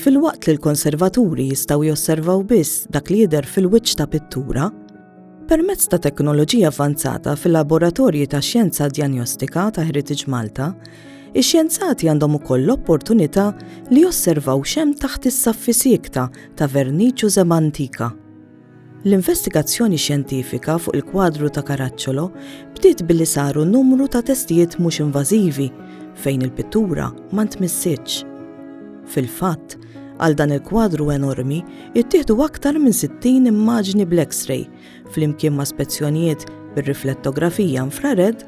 Filwaqt li l-konservaturi jistgħu josservaw biss dak li jidher fil-wiċċ ta' pittura, permezz ta' teknoloġija avvanzata fil-laboratorji ta' xjenza djanjostika ta' Heritage Malta, ix-xjenzati għandhom ukoll l-opportunità li josservaw xem taħt is-saffi siekta ta' verniċ u żeb antika. L-investigazzjoni xjentifika fuq il-kwadru ta' Caracciolo bdiet billi saru numru ta' testijiet mhux invażivi fejn il-pittura ma ntmissitx. Fil-fatt, għal dan il-kwadru enormi ittieħdu aktar minn 60 immaġni bl-X-ray flimkien ma' spezzjonijiet bir-riflettografija infrared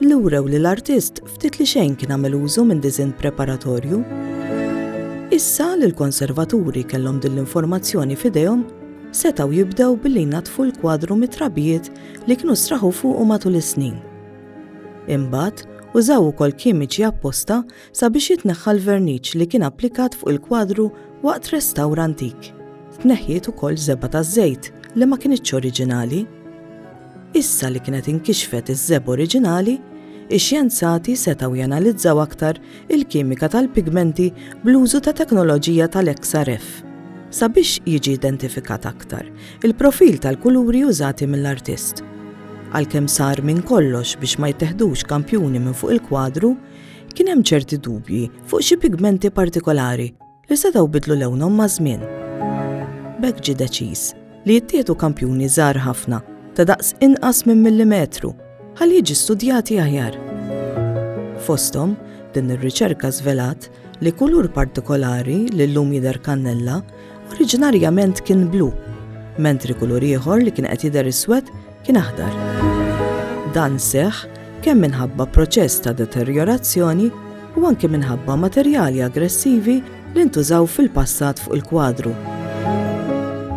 li wrew li l-artist Ftit li xejn kien għamel użu minn diżinn preparatorju. Issa li l-konservaturi kellhom din l-informazzjoni f'idejhom, setgħu jibdew billi jnaddfu l-kwadru mit-trabijiet li kienu straħu fuqu matul is-snin. Imbagħad, użaw ukoll kimiċi apposta sabiex jitneħħa l-verniċ li kien applikat fuq il-kwadru waqt restawr antik. Tneħħiet ukoll żebgħa taż-żejt li ma kinitx oriġinali. Issa li kienet inkixfet iż-żebgħa oriġinali, ix-xjenzati setgħu janalizzaw aktar il-kimika tal-pigmenti bl-użu ta' teknoloġija tal-XRF. Sabiex jiġi identifikat aktar il-profil tal-kuluri użati mill-artist. Għalkemm sar minn kollox biex ma jitteħdux kampjuni minn fuq il-kwadru, kien hemm ċerti dubji fuq xi pigmenti partikolari. li setgħu bidlu lewnhom maż-żmien. B'hekk ġie deċiż li jittieħdu kampjuni żgħar ħafna ta' daqs inqas minn millimetru ħalli jiġi studjati aħjar. Fosthom, din ir-riċerka żvelat li kulur partikolari li llum jidher kannella oriġinarjament kien blu, mentri kulur ieħor li kien qed jidher iswed kien aħdar. Dan seħħ kemm minħabba proċess ta' deterjorazzjoni u anke minħabba materjali aggressivi li ntużaw fil-passat fuq il-kwadru.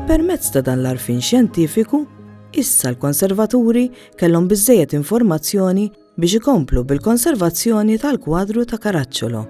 Permezz ta' dan l-arfin xjentifiku, issa l-konservaturi kellhom biżżejjed informazzjoni biex ikomplu bil-konservazzjoni tal-kwadru ta' Karaċċolo.